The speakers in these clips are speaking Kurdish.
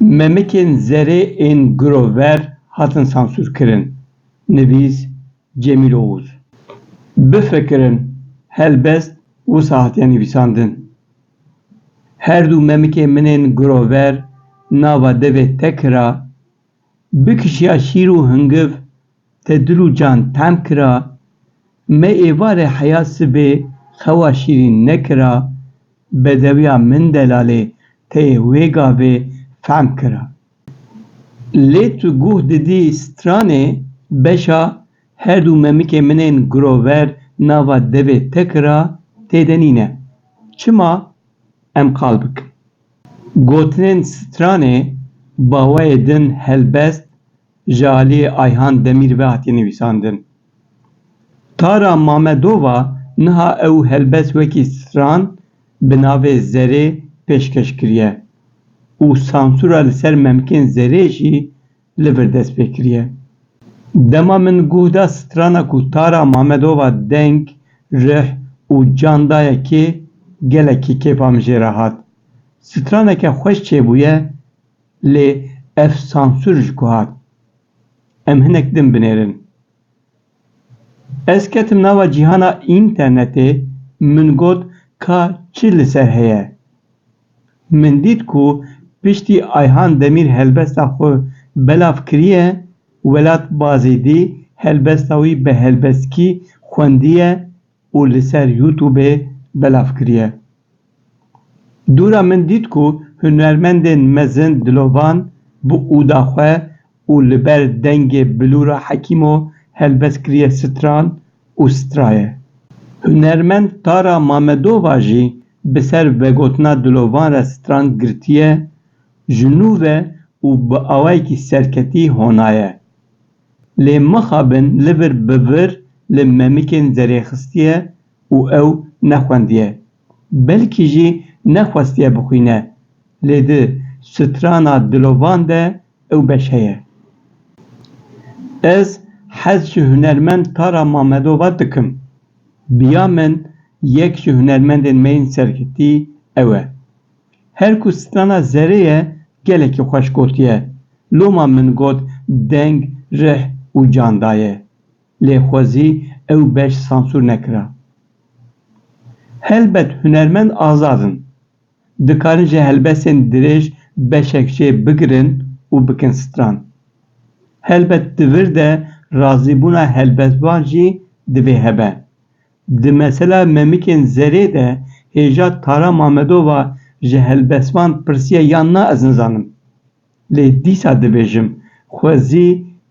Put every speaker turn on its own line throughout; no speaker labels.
Memikên zerê ên girover hatin sansûrkirin, nivîs, Cemîl Oğuz. Bifikirin, helbest wisa hatiye nivîsandin. Her du memikê min ên girover nava devê Tekira Bi kişiya şîr û hingiv te dil û can tehm kira, me êvarê heya sibê xewa şîrîn nekira, bedewiya min delalê teyê wê gavê fehm kira. Lê tu guh didî stranê beşa her dû memikê min ên girover nava devê te kira têde nîne. Çima? Em qal bikin. Gotinên stranê bawayê din helbest ji aliyê Ayhan Demîr ve hatiye nivîsandin. Tara Mamedova niha ew helbest wekî stran bi navê Zerê pêşkeş kiriye û sansûra li ser Memkên Zerê jî li vir dest pê kiriye. Dema min guh da strana ku Tara Mamedova deng, rih û can daye kê, gelekî kêfa min jê re hat. Straneke xweş çêbûye lê ev sansûr ji ku hat? Em hinek din binêrin. Ez ketim nava cîhana înternetê, min got ka çi li ser heye. Min dît ku piştî Ayhan Demîr helbesta xwe belav kiriye, Welat Bazêdî helbesta wî bi helbestkî xwendiye, û li ser Youtubê belav kiriye. Dûra min dît ku hunermendên mezin dilovan bi ûda xwe û li ber dengê Bilûra Hekîmo helbest kiriye stran û straye. Hunermend Tara Mamedova jî bi ser vegotina dilovan re stran girtiye, ji nû ve û bi awayekî serketî honaye. Lê mixabin li vir bi vir li Memikên Zerê xistiye û ew nexwendiye. Belkî jî nexwestiye bixwîne. Lê di strana dilovan de ew beş heye. Ez hez ji hunermend Tara Mamedova dikim. Biya min yek ji hunermendên me yên sergirtî ew e. Her ku strana zerê ye gelekî xweş gotiye. Loma min got deng, rih û can daye. Lê xwezî ew beş sansûr nekira. Helbet hunermend azad in. Dikarin ji helbestên dirêj beşek jê bigirin û bikin stran. Helbet di vir de razîbûna helbestvan jî divê hebe. Di mesela Memikên Zerê de hêja Tara Mamedova ji helbestvan pirsiye yan na ez nizanim. Lê dîsa dibêjim xwe zî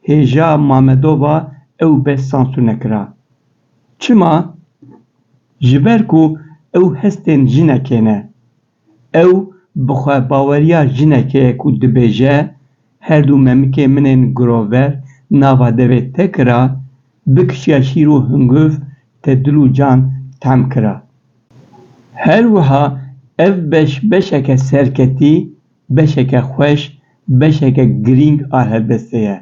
hêja Mamedova ew bes sansûr nekira. Çima? Ji ber ku ew hestên jinekê ne. Ew bi xwebaweriya jinekê ye ku dibêje, Her du memikê min ên girover nava devê te kira, bi kişiya şîr û hunguv te dil û can tehm kira. Her wiha ev beş beşeke serketî, beşeke xweş, beşeke girîng a helbestê ye.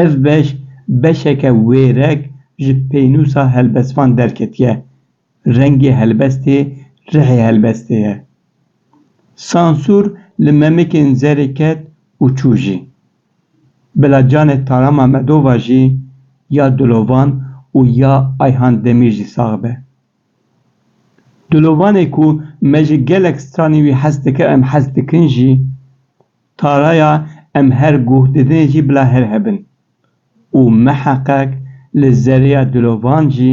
Ev beş beşeke wêrek ji pênûsa helbestvan derketiye. Rengê helbestê rihê helbestê ye. Sansûr li memikên zerê ket û çû jî. Bila canê Taram Amedova jî ya Dilovan û ya Ayhan Demîr jî sax be. Dilovanê ku me ji gelek stranî wî hez dikir em hez dikin jî, Taraya em her guh didinê jî bila her hebin. Û miheqeq li zerê ya Dilovan jî